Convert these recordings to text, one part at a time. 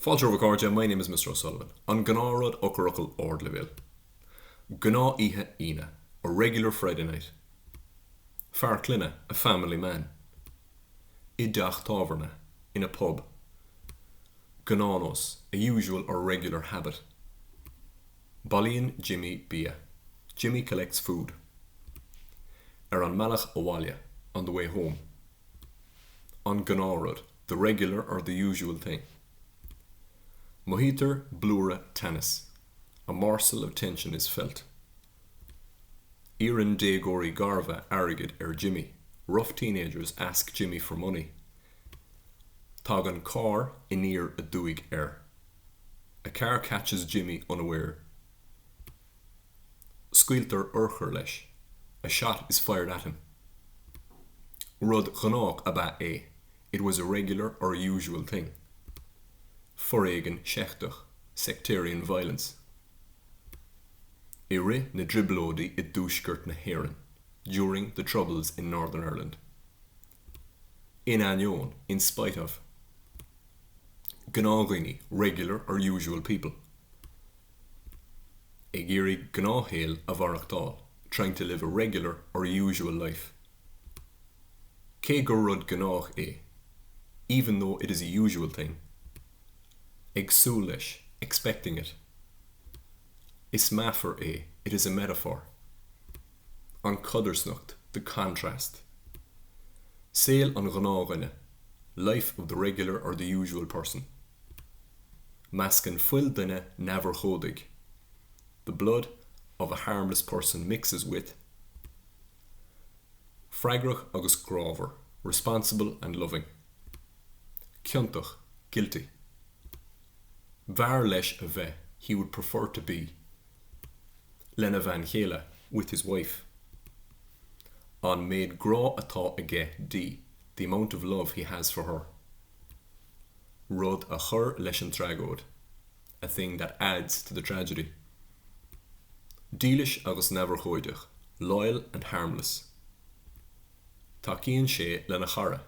Fáilte romhaibh a chairde, my name is Mr O'Sullivan. An gnáth rud, eochairfhocal ardleibhéil. Gnáth oíche Aoine, a regular Friday night. Fear clainne, a family man. I dteach tábhairne, in a pub. Gnáthnós, a usual or regular habit. Bailíonn Jimmy bia, Jimmy collects food. Ar an mbealach abhaile, on the way home. An gnáth rud. the regular or the usual thing. Mothaítear blúire teannas, a morsel of tension is felt. Iarrann déagóirí garbha airgead ar Jimmy, rough teenagers ask Jimmy for money. Tagann carr aniar aduaidh air, a car catches Jimmy unaware. scaoiltear urchar leis, a shot is fired at him. Rud gnách ab ea é, it was a regular or usual thing. Foréigean seicteach, sectarian violence. I rith na dTrioblóidí i dTuaisceart na hÉireann, during the Troubles in Northern Ireland. In ainneoin, in spite of. Gnáthdhaoine, regular or usual people. ag iarraidh gnáthshaol a mhaireachtáil trying to live a regular or usual life cé gur rud gnách é even though it is a usual thing ag súil leis expecting it is meafar é it is a metaphor an chodarsnacht the contrast saol an ghnáthdhuine life of the regular or the usual person. Meascann fuil duine neamhurchóidigh, the blood of a harmless person mixes with freagrach agus grámhar, responsible and loving ciontach, guilty b'fhearr leis a bheith, he would prefer to be lena bhean chéile, with his wife an méid grá atá aige di, the amount of love he has for her. rud a chur leis an tragóid, a thing that adds to the tragedy. Dílis agus neamhurchóideach, loyal and harmless. Tacaíonn sé lena chara,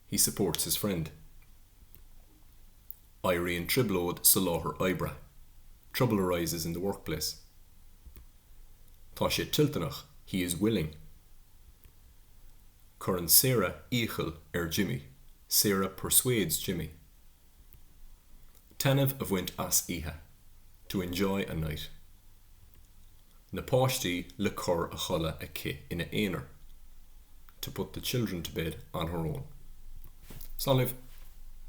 he supports his friend. Éiríonn trioblóid sa láthair oibre, trouble arises in the workplace. Tá sé toilteanach, he is willing. Cuireann Sarah iachall ar Jimmy, Sarah persuades Jimmy, taitneamh a bhaint as oíche, to enjoy a night. na páistí le cur a chodladh aici ina aonar, to put the children to bed on her own. Slán libh!